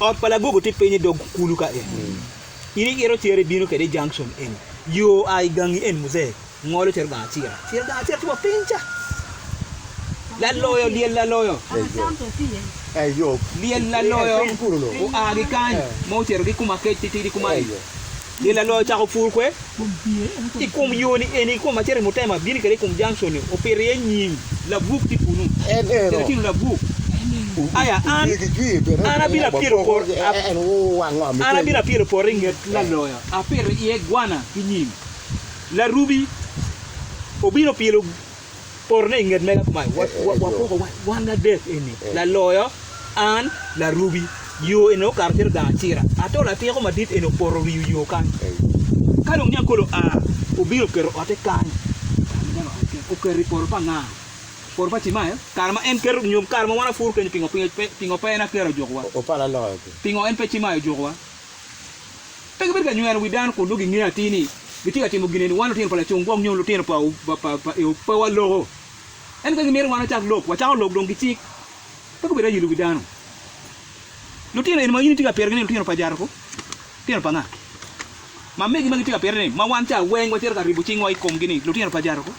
Ot pa lagogo tye piny i dog kulu ka en. In iito cere ibino kwede i junction eni. Yo a i gangi eni muzee ngolo cito gang acira. Ciro gang acira tye wa piny ca. Laloyo, lyel laloyo. Lyel laloyo oa ki kany ma ocito ki kuma kec titidi kuma-ni. Myel aloya ocako pur kwe i kom yo ni eni i kom ma cito i mutema abini kede i kom junction ni opito iye nying labuk tye kunu kede tino labuk aya an an abino apyelo poto an abino apyelo poto i nget laloya apito iye gwana ki nying larubi obino pyelo potone i nget mega kumae, Wapoko wan adek eni, laloyo, an, larubi. Yo eni okato cito gang acira, ato latiko madit eni opoto riyo yo kany. Ka dong niang kolo oa, obino keto ote kany. Oketo i poto pa nga? Poto pa Cimael? Kare ma en keto nyo kare ma wan apuru kenyo pingo pe en Akira ojukowa? Pingo en pe Cimael ojukowa? Pe gibedo ka nyweno wi dano kun nongo gingeyo atir ni gitye ka timo gin eni. Wan lutino pa lacung gwok nyo lutino pa Eob pe waloko. Ento ka gimito wan wacak lok, wacako lok dong ki cik. Pe gubedo ayilo wi dano. Lutino eni ma in itye ka pitogi ni lutino pa Jaruku, lutino pa nga? Ma megi ma gitye ka pito ni, ma wan ca weng wacito ka ribo cingwa i komgi ni lutino pa Jaruku?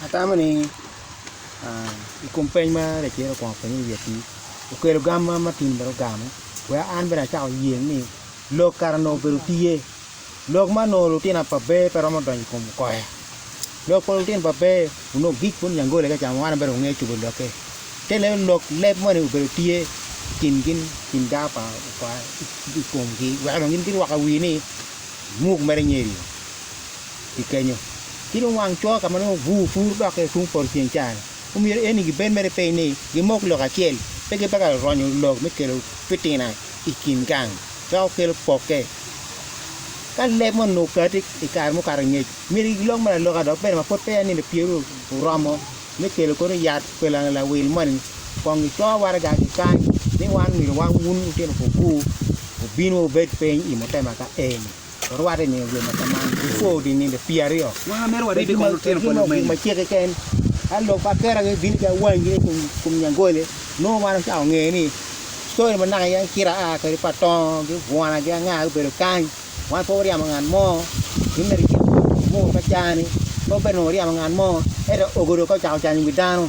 Atamo ni i kom peny ma Racedo okwongo openyo i wiye-ni, okelo gam ma Martin bene ogamo wek an bene acak oye ni lok kara onongo obedo tiye. Lok ma onongo lutina pa Bee pe romo donyo i kom koya. Lok pa lutin pa Bee onongo gik bot Nyangole ka ca ma wan bene wangeyo cobo lokke. Te leo lok leb moni obedo tye i kin gin i kin gaa pa i komgi wek dong gin girwaka wii ni muk mere nyerio. i kenyo, ci dong wang cwo ka ma nongo obur puru dokke tung poto ceng ca-ni. Omyero eni gibed mere piny ni gimok lok acel, pe gipe ka ronyo lok me kelo pitina i kin gang, dok kelo pokke. Ka leb moni onongo okati i kare mukato ngec, myero gilok me laloka dok bene ma pud peya nino pyeruru oromo me kelo kono yat pa lawil moni, kong gico waraga ki kany ni wan omyero wan wun lutino puku obin wubed piny i mutema ka eni. Warwatte ni obedo ma kaman before odi nino pii aryo ma mere warwatte ni kono lutino pa lumenyo macek keken ka lok pa kera gi bini ka wany gini kum kum nyangole nongo man ocako ngeye ni story ma naka yen kira aa kadi pa tongo gi bwona gi anga gubedo kany wan pe waryamo ngat mo in mere cit mo macani pe wabedo nongo waryamo ngat mo ento ogodo ka ocako canyo wi dano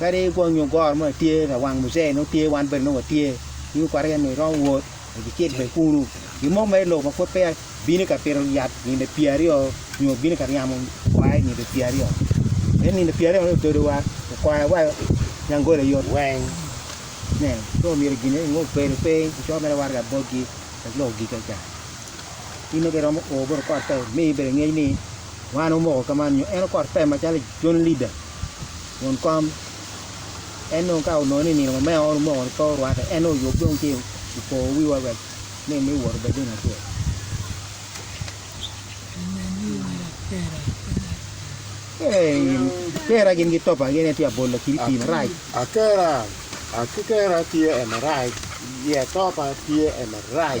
Kadi kwo nyo goro mo tye ka wang muzee nongo tye wan bene nongo watye ki okwara yat nongo iromo wot icit bene kunu gin mo ma ilubo pud peya bini ka pito yat nino pyera aryo nyo bini ka ryemo kwai nino pyera aryo pien nino pyera aryo ni ododo wa okwaya wa nyangolo aye yot weng nen so myero gin eni nongo obedo piny ocoyo mere waraga botgi wek lok ogika ca in nongo ka iromo o bot okot pe mi bedo ngec ni wan omoko ka man nyo en okot pe macalo John Lida won kom en dong ka onongo ni nino ma mea oro omoko ki pe orwate en dong oyub dong ci opo wiwa wek ni me wot obed dong acel. Kera gin ki topa gin en tye abol lakiri pii marac. Akera ki kera tye en marac, iya topa tye en marac.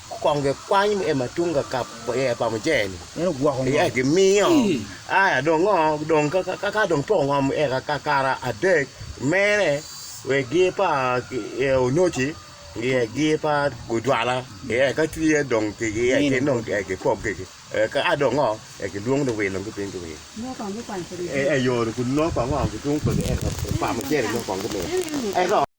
Kong gikwany me ema tung ka kap iye pa mujene-ni, iye gimiyo. Aya dong ngo, dong ka dong poko ngom eka kakare adek mere wek gi pa Onoci iye gi pa Gujwala iye ka tye dong kigi iye gin dong gipog gigi. Ka a dong ngo eka gilwong luwil dong gibin giwil. Eyo dong gunongo kong ngo gitung kwede eka pa mujene dong kong gimiyo.